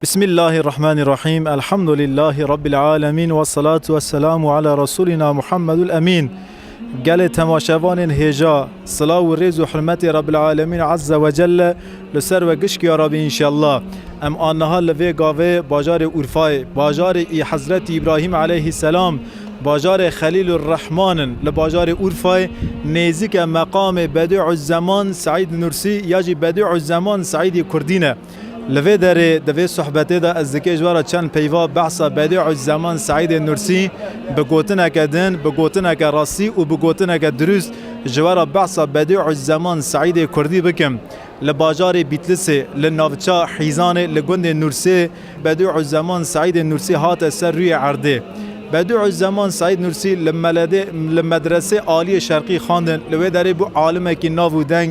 Bismîllahî Rehmanî Rehîm Elhamdulîllahî Rabbîl Alemîn Wesselatu wesselamu ala Resûlîna Muhammedul Emîn Gelê temaşevanên hêja, silav û rêz û hirmetê Rabbîl Alemîn Ezze ve Celle li ser we gişk ya rabî înşellah. Em a niha li vê gavê bajarê Urfayê, bajarê î Hezretî Îbrahîm eleyhî selam, bajarê Xelîlur Rehman in. Li bajarê Urfayê nêzîke meqamê Bedî'u Zeman Seîd Nursî ya jî Bedî'u Zeman Seîdî Kurdî ne. Li vê derê di vê sohbetê de ez dikê ji we re çend peyva behsa Bedî'u Zaman Seîdê Nursî bi gotineke din, bi gotineke rastî û bi gotineke dirûst ji we re behsa Bedî'u Zaman Seîdê Kurdî bikim. Li bajarê Bîtlisê, li navça Hîzanê li gundê Nursê Bedî'u Zaman Seîdê Nursî hate ser rûyê erdê. Bedî'u Zaman Seîd Nursî li meledê li Medresê Aliyê Şerqî xandin, li wê derê bû alimekî nav û deng,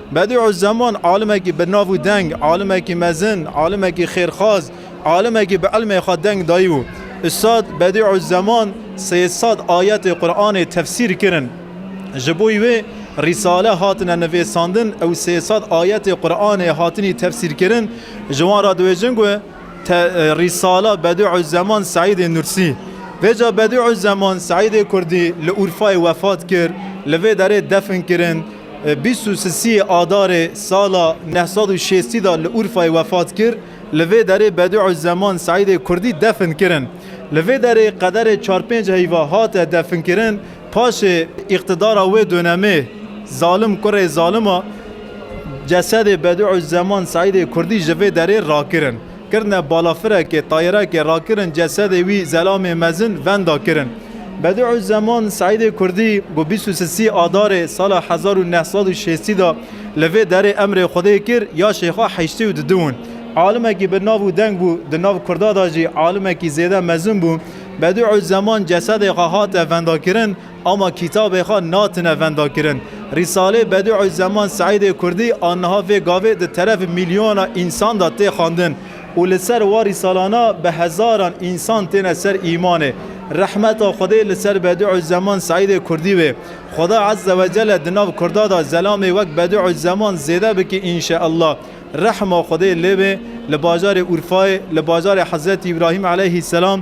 Bedî'u'z-Zeman alimekî birnav û deng, alimekî mezin, alimekî xêrxwaz, alimekî bi ilmê xwe deng dayî bû. Ustad Bedî'u'z-Zeman sê sed ayetê Quranê tefsîr kirin. Ji bo wê rîsale hatine nivêsandin û sê sed ayetê Quranê hatinî tefsîrkirin. Ji wan re dibêjin ku te rîsala Bedî'u'z-Zeman Seîdê Nursî. Vêca Bedî'u'z-Zeman Seîdê Kurdî li Urfayê wefat kir, li vê derê defn kirin. Bîst û sisiyê Adarê sala neh sed û şêstî de li Urfayê wefat kir. Li vê derê Bediûzzeman Seîdê Kurdî defn kirin. Li vê derê qederê çar pênc heyva hate definkirin. Paşê îqtidara wê donemê zalim kurê zalima cesedê Bediûzzeman Seîdê Kurdî ji vê derê rakirin. Kirine balafirekê, tayerekê, rakirin cesedê wî Zelamê Mezin venda kirin. Bedî'uzeman Seîdê Kurdî ku bîst û sisî Adarê sala hezar û neh sed û şêstî de li vê derê emrê Xwedê kir ya Şêxa heştê û dudu in. Alimekî bi nav û deng bû, di nav Kurda de jî alimekî zêde mezin bû. Bedî'uzeman cesedê xwe hate vendakirin. Ama kîtabê xwe natine vendakirin. Rîsalê Bedî'u'l-Zeman Seîdê Kurdî a niha vê gavê di terefê mîlyona însan de tê xwendin û li ser wan rîsalana bi hezaran însan têne ser îmanê. Rehmeta Xwedê li ser Bedî'u'l-Zeman Seîdê Kurdî wê. Xweda Ezze ve Celle di nav Kurda de zelamê wek Bedî'u'l-Zeman zêde bike înşe'llah. Rehma Xwedê lê be li bajarê Urfayê, li bajarê Hezretî Îbrahîm Eleyhî Selam,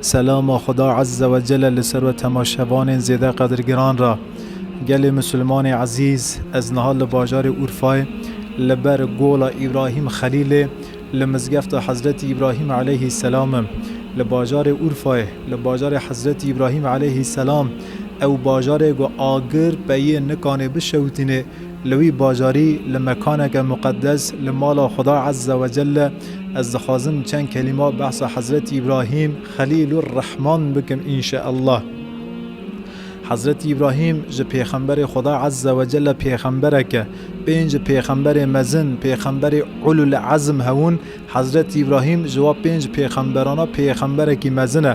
Selama Xuda Ezze ve Celle li ser we temaşevanên zêde qedirgiran re. Gelê Musulmanê Ezîz, ez niha li bajarê Urfayê li ber Gola Îbrahîm Xelîlê li Mizgefta Hezretî Îbrahîm Eleyhî Selam im. Li bajarê Urfayê, li bajarê Hezretî Îbrahîm Eleyhî Selam, ew bajarê ku agir peyê nikanê bişewitînê, Li wî bajarî li mekaneke muqeddes li mala Xweda Ezze Wecelle ez dixwazim çend kelîma behsa Hezretî Îbrahîm Xelîlur Rehman bikim înşeellah. Hezretî Îbrahîm ji pêxemberê Xweda Ezze Wecelle pêxemberek e. Pênc pêxemberê mezin, pêxemberê Ulul Ezm hewûn, Hezretî Îbrahîm ji wa pênc pêxemberana pêxemberekî mezin e.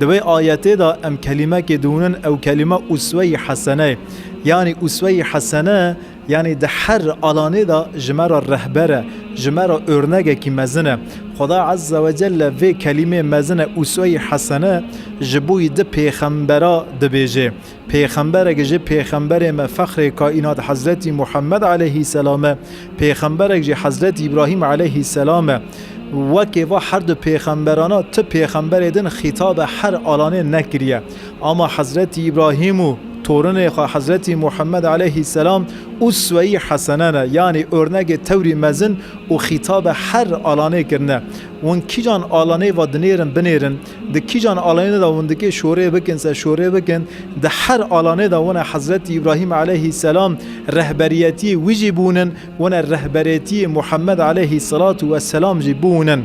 Di vê ayetê de em kelîmekê dihûnin ew kelîme uswe-yî hesene ye. Yanî uswe-yî hesene yanî di her alanê de ji me re rehber e, ji me re örnegekî mezin e. Xweda Ezze ve Celle vê kelîmê mezin e uswe-yî hesene ji bo wî di pêxembera dibêje. Pêxemberek ji pêxemberên me fexrê kaînat Hezretî Muhemmed eleyhîsselam e. Pêxemberek jî Hezretî Îbrahîm eleyhîsselam e. Wekê va her du pêxemberana tu pêxemberê din xîtabe her alanê nekiriye. Ama Hezretî Îbrahîm û torinê xwe Hezretî Muhemmed eleyhîsselam usweyî hesene ne yanî ornegê tewrî mezin û xîtabe her alanê kirine. Wan kîjan alanê va dinêrin binêrin. Di kîjan alanê de hûn dikê şorê bikin se şorê bikin, di her alanê de hûn e Hezretî Îbrahîm aleyhîsselam rehberiyetîyê wî jî bûn in, hûn e rehberêtîyê Muhemmed aleyhîsselatu wesselam jî bûn in.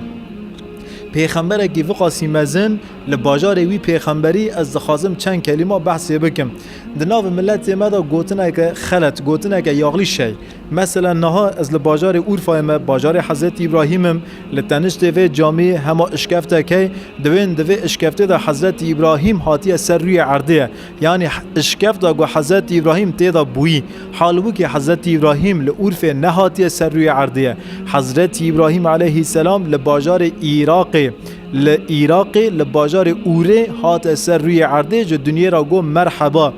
Pêxemberekî viqasî mezin li bajarê wî pêxemberî ez dixwazim çend kelîma behsê bikim. Di nav miletê me de gotineke xelet, gotineke yaxlî şey. Mesela niha ez li bajarê Urfayê me, bajarê Hezretî Îbrahîm im, li teniştê vê camî hema işkeftek hey, diwên di vê işkeftê de Hezretî Îbrahîm hatiye ser rûyê erdê ye. Yanî işkefta ku Hezretî Îbrahîm tê de bûyî. Hal wikî Hezretî Îbrahîm li Urfê nehatiye ser rûyê erdê ye. Hezretî Îbrahîm eleyhîsselam li bajarê Îraqê, li Îraqê li bajarê Urê hate ser rûyê erdê ji dinyê re got merheba.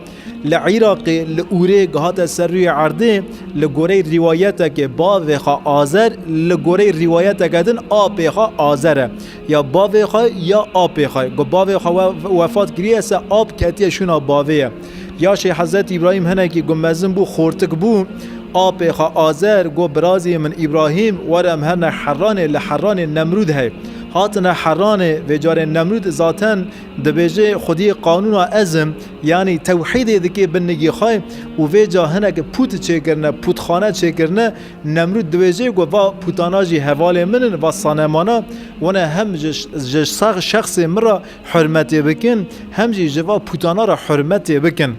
Li Îraqê li Urê ku hate ser rûyê erdê li goreyê rîwayetekê bavê xwe Azer li goreyê rîwayeteke din apê xwe Azer e. Ya bavê xwe ya apê xwe. Ku bavê xwe wefat kiriye se ap ketiye şûna bavê ye. Yaşê Hezretî Îbrahîm hinekî ku mezin bû xortik bû apê xwe Azer got birazê min Îbrahîm were em her ne Heranê li Heranê Nemrûd hey. Hatine Heranê vê carê Nemrûd zaten dibêje xwediyê qanûna ez im. Yanî tewhîdê dikê bin nigê xwe û vê ca hinek pût çêkirine, pûtxane çêkirine, Nemrûd diwêjê ku va pûtana jî hevalên min in, va sanemana wan e hem ji şexsê min re hurmetê bikin hem jî ji va pûtana re hurmetê bikin.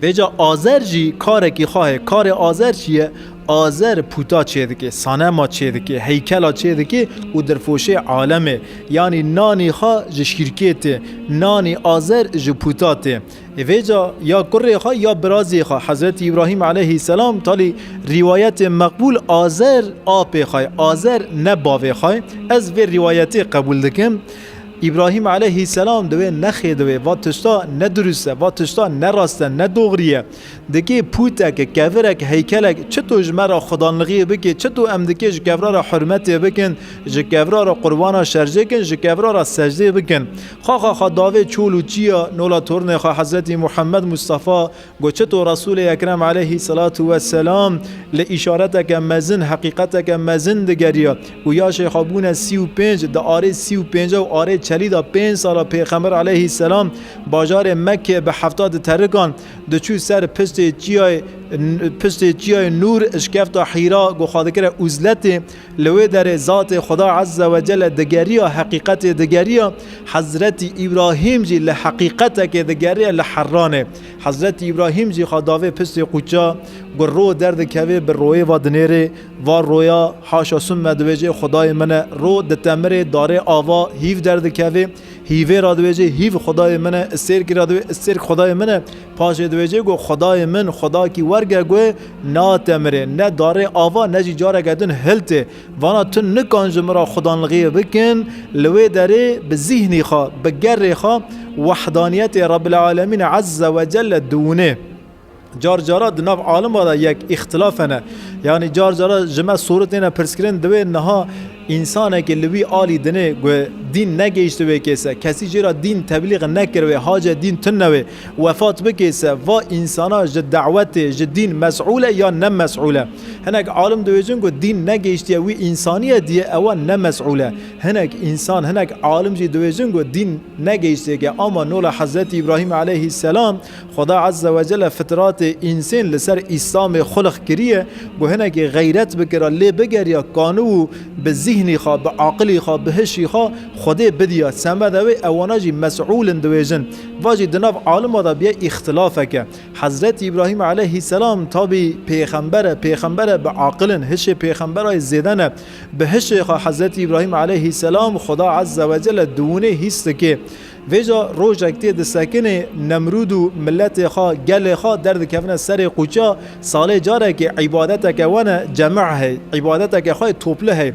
Vê ca azer jî karekî xwe heye. Karê azer çi ye? Azer puta çêdike, sanema çêdike, heykela çêdike û dirfoşê alemê. Yanî nanî xwe ji şîrkê tê. Nanî azer ji puta tê. Vêca ya kurê xwe ya birazê xwe Hezretî Îbrahîm eleyhî selam talî rîwayetê meqbûl azer apê xwe ye, azer ne bavê xwe ye. Ez vê rîwayetê qebûl dikim. Îbrahîm eleyhî selam di wê nexê di wê va tişta ne dirust e, va tişta ne rast e, ne dogirî ye. Dikê pûtek, kevirek, heykelek çi to ji me re xwedanlixiyê bikê, çi to em dikê ji kevra re hurmetê bikin, ji kevra re qurbana şerjê kin, ji kevra re secdê bikin. Xaxa xwe davê çol û çiya nola tornê xwe Hezretî Muhemmed Mustafa got çi to Resûlê Ekrem Eleyhî Selatu we Selam li îşareteke mezin, heqîqeteke mezin digeriya û yaşê xwe bûne sî û pênc di arê sî û pênca û arê çelî da pênc sala Pêxember Eleyhî Selam bajarê Mekkê bi hefta di terikan Diçû ser piştê çiyayê piştê çiyayê Nûr şikefta Hîra ku xwe dikire Uzletê, li wê derê zatê Xweda Ezze Wecele digeriya heqîqetê digeriya, Hezretî Îbrahîm jî li heqîqetekê digeriya li Herranê. Hezretî Îbrahîm jî xwe davê piştê quça ku ro derdikevê bi royê ve dinêrê, va roya haşa sûmme dibêjê Xwedayê min e, ro ditemirê darê ava hîv derdikevê, Hîvê ra diwêjê hîv xwedayê min e, îstêrkî ra diwê îstêrk xwedayê min e. Paşê diwêjê ku xwedayê min xwedakî werge ku natemirê, ne darê ava ne jî careke din hiltê. Vana tu nikan ji min ra xwedanlixiyê bikin, li wê derê bi zîhnî xwe, bi gerê xwe wehdaniyetê Rebbil Alemîn Ezze Wecelle diwinê. Car cara di nav alima de yek îxtilaf hene. Yanî car cara ji me sûru têne pirskirin divê niha însanekê li wî alî dinê ku dîn negihişti wê kêse, kesî jê re dîn teblîg nekir wê, hace dîn tune wê, wefat bikê se va însana ji dewetê, ji dîn mes'ûl e yan ne mes'ûl e. Hinek alim dibêjin ku dîn negihiştiye wî însaniye diyê ewa ne mes'ûl e. Hinek însan, hinek alim jî dibêjin ku dîn negihiştêke ama nola Hezretî Îbrahîm eleyhî selam Xweda Ezze Wecelle fitratê însên li ser Îslamê xulix kiriye ku hinekê xeyret bike re lê bigeriya kanu û bi zîhnî xwe, bi aqilî xwe, bi hişî xwe Xwedê bidiya semeda wê ew wana jî mesûl in diwêjin. Va jî di nav alima de bûye îxtilafeke. Hezretî Îbrahîm Eleyhîsselam tabî pêxember e, pêxember e bi aqil in, hişê pêxemberayê zêde ne. Bi hişê xwe Hezretî Îbrahîm Eleyhîsselam Xweda Ezze Wecelle di winê hîs dike. Vêca rojek tê disekinê Nemrûd û miletê xwe, gelê xwe derdikevine serê qûça, salê carekê îbadeteke wan e cemeh hey, îbadeteke xwe yê topli hey.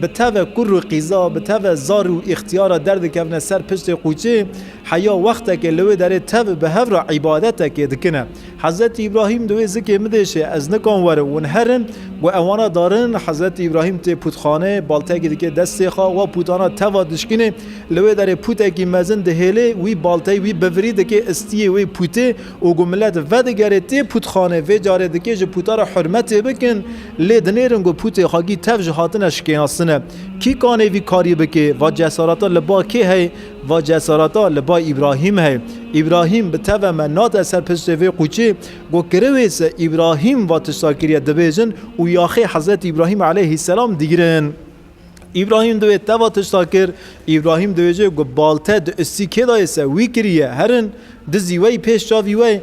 Bi teve kurr û qîza, bi teve zar û îxtiyara derdikevine ser piştê qûçê, heya wextekê li wê derê tev bi hev re îbadetekê dikine. Hezretî Îbrahîm di wê zikê midêşê, ez nikan werim, wan herin, gu ewana darin, Hezretî Îbrahîm tê pûtxanê, baltekî dike destê xwe, wa pûtana teva dişkinê, li wê derê pûtekî mezin dihêlê, wî balteyî wî bivirî dike istiyê wê pûtê û gu milet vedigere tê pûtxanê, vê carê dike ji pûta re hurmetê bikin, lê dinêrin gu pûtê xwe gî tev ji hatine şikênasine. Kî kanê vî karî bike? Va cesareta li ba kê heye? Va cesareta li ba Îbrahîm heye. Îbrahîm bi teve me nate ser piştê vê qûçê. Got kirewê se Îbrahîm va tişta kiriye dibêjin û yaxê Hezretî Îbrahîm aleyhîsselam digirin. Îbrahîm di wê teva tişta kir. Îbrahîm dibêje ku balte di ustî kê dayê se wî kiriye herin. Dizî we yî pêş çavî we ye.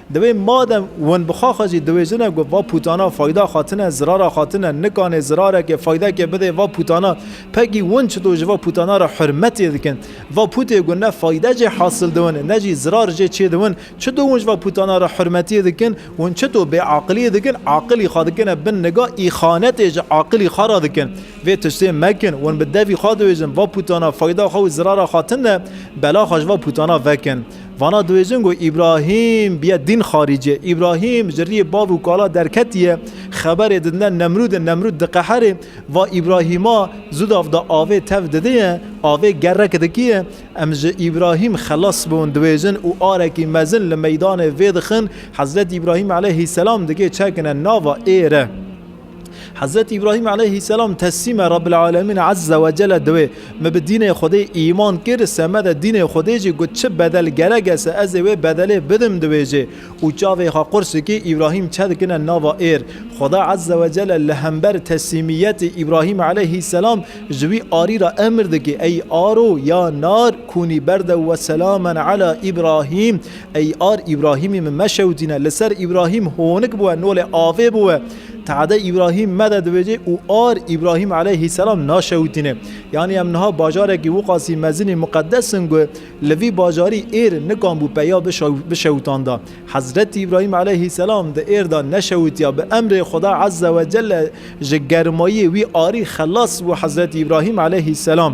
Divê madem winbixa xwe jî diwêjine ku va pûtana fayda xwe tine, zirara xwe tine, nikanê zirarekê, faydekê bidê va pûtana. Pegî win çito ji va pûtana re hurmetê dikin. Va pûtê ku ne fayde jê hasil diwin, ne jî zirar jê çêdiwin, çito win ji va pûtana re hurmetê dikin, win çito bêaqiliyê dikin, aqilî xwe dikine bin niga, îxanetê ji aqilî xwe re dikin. Vê tiştê mekin, win bi devî xwe diwêjin, va pûtana fayda xwe û zirara xwe tine, bela xwe ji va pûtana vekin. Vana diwêjin ku Îbrahîm biye dîn xarîcê. Îbrahîm ji riyê bav û kala derketiye, xeberê didine Nemrûdê, Nemrûd diqeherê, va Îbrahîma zûdav da avê tev didiye, avê gerek dikiye. Em ji Îbrahîm xelas bûn diwêjin û arekî mezin li meydanê vê dixin. Hezretî Îbrahîm eleyhî selam dikê çekine nava êre. Hezretî Îbrahîm eleyhî selam teslîme Rabbil Alemîn Ezze ve Celle diwê. Me bi dînê Xwedê îman kir, se me de dînê Xwedê jî got çi bedel gerek e se ez ê wê bedelê bidim diwêjê. Û çavê xwe qur sikî Îbrahîm çe dikine nava êr. Xweda Ezze ve Celle li hember teslîmiyetê Îbrahîm eleyhî selam ji wî arî re emir dike, Ey aro ya nar kûnî berdew ve selamen ala Îbrahîm. Ey ar Îbrahîmî min meşewitîne, li ser Îbrahîm honik bûye, nolê avê bûye. Te'de Îbrahîm me de dibêje û ar Îbrahîm eleyhîsselam naşewitîne. Yanî em niha bajarekî Wuqasî mezinî muqeddes in ku li vî bajarî êr nikan bû peya bişewitanda. Hezretî Îbrahîm eleyhîsselam di êr de neşewitiya, bi emrê Xuda Ezzewecelle ji germayê wî arî xelas bû Hezretî Îbrahîm eleyhîsselam.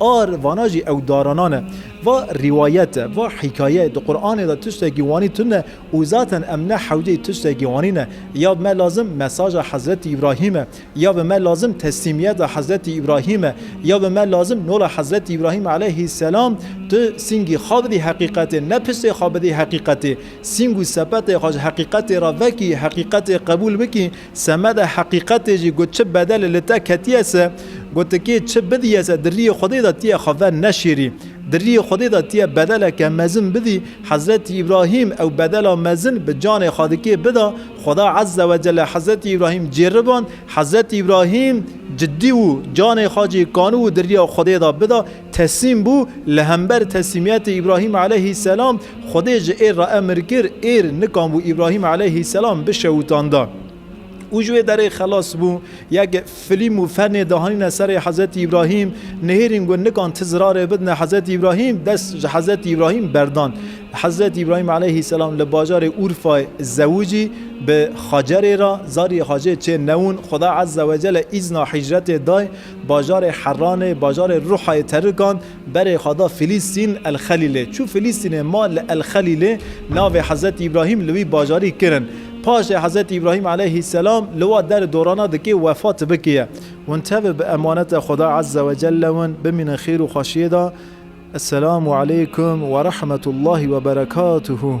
Ar vana jî ew daranan e. Va rîwayet e, va hîkaye ye, di Quranê de tiştekî wanî tune û zaten em ne hewceyî tiştekî wanî ne. Ya bi me lazim mesaja Hezretî Îbrahîm e, ya bi me lazim teslîmiyeta Hezretî Îbrahîm e, ya bi me lazim nola Hezretî Îbrahîm eleyhîsselam tu sîngî xwe bidî heqîqetê, ne piştê xwe bidî heqîqetê. Sîng û sepetê xwe ji heqîqetê re vekî, heqîqetê qebûl bikî. Semeda heqîqetê jî ku çi bedelê li te ketiye se, gotikê çi bidîye se di rîyê Xwedê de tîye xwe ver neşêrî. Di rîyê Xwedê de tîye bedeleke mezin bidî, Hezretî Îbrahîm ew bedela mezin bi canê xwe dikê bida, Xweda Ezze we Celle Hezretî Îbrahîm cêriband, Hezretî Îbrahîm cidî wû, canê xwe jî kanû û di rîya Xwedê de bida, Tesîm bû, li hember tesîmiyetê Îbrahîm eleyhî selam, Xwedê ji êr re emir kir, êr nikan bû Îbrahîm eleyhî selam bişewitanda. Û ji wê derê xelas bû. Yekê filîm û fernê dihanîne serê Hezretî Îbrahîm, nihêrîn ku nikan ti zirarê bidine Hezretî Îbrahîm, dest ji Hezretî Îbrahîm berdan. Hezretî Îbrahîm eleyhî selam li bajarê Urfayê zewicî bi Hacerê ra, zarî Hacê çê newin, Xweda Ezzewecelle îzna hîcretê day, Bajarê Heranê, bajarê ruha yê terikan, berê xwe da Filîstîn, El Xelîlê. Çû Filîstînê ma li El Xelîlê, navê Hezretî Îbrahîm li wî bajarî kirin. Paşê Hezretî Îbrahîm eleyhîsselam li wa der dorana dikê wefa tibikê ye. Hûn tevir bi emaneta Xweda Ezze we Celle win, bimînin xêr û xweşiyê de. Esselamu Eleykum we Rehmetullahî we Berekatuhu.